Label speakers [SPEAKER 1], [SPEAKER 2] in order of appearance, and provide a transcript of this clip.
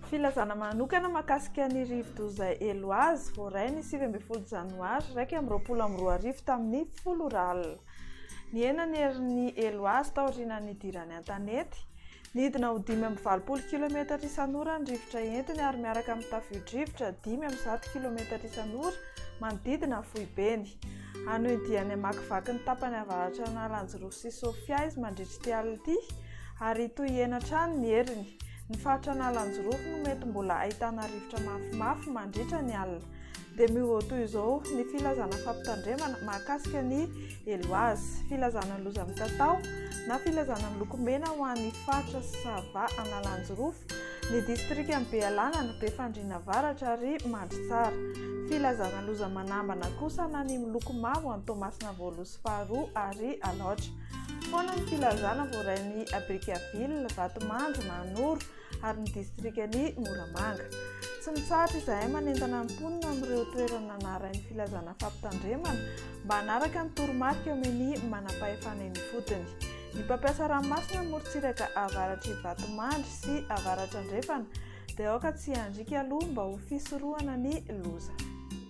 [SPEAKER 1] Filazana manokana mahakasika ny rivodoza Eloise, voaray ny sivy ambin'ny folo janoary iraika amby roapolo amby roa arivo tamin'ny folo ora alina. Nihena ny herin'ny Eloise taorian'ny nidirany an-tanety. Nidina ho dimy amby valopolo kilometatra isan'ora ny rivotra entiny ary miaraka amin'ny tavio-drivotra dimy amby zato kilometatra isan'ora manodidina ny foibeny. Hanohy diany hamakivaky ny tapany avaratr'Analanjirofo sy Sofia izy mandritra ity alina ity ary hitohy hihena hatrany ny heriny. Ny faritra Analanjirofo no mety mbola ahitana rivotra mafimafy mandritra ny alina. dia miova toy izao ny filazana fampitandremana mahakasika ny eloazy filazana ny loza mitatao na filazana ny lokomena ho an'ny faritra sy sava analanjirofo ny distrika ny bealana ny be fandriana varatra ary mandry tsara filazana loza manambana kosa na ny miloko mavo any tomasina voalosy faharoa ary alaotra foana ny filazana voarain'ny abrikaville vatomandry manoro ary ny distrikan'i Moramanga. Tsy mitsahatra izahay manentana ny mponina amin'ireo toerana narahin'ny filazana fampitandremana mba hanaraka ny toromarika omen'ny manam-pahefana eny ifotony. Ny mpampiasa ranomasina morontsiraka avaratr'i Vatomandry sy avaratr'Andrefana dia aoka tsy handriaka aloha mba ho fisorohana ny loza.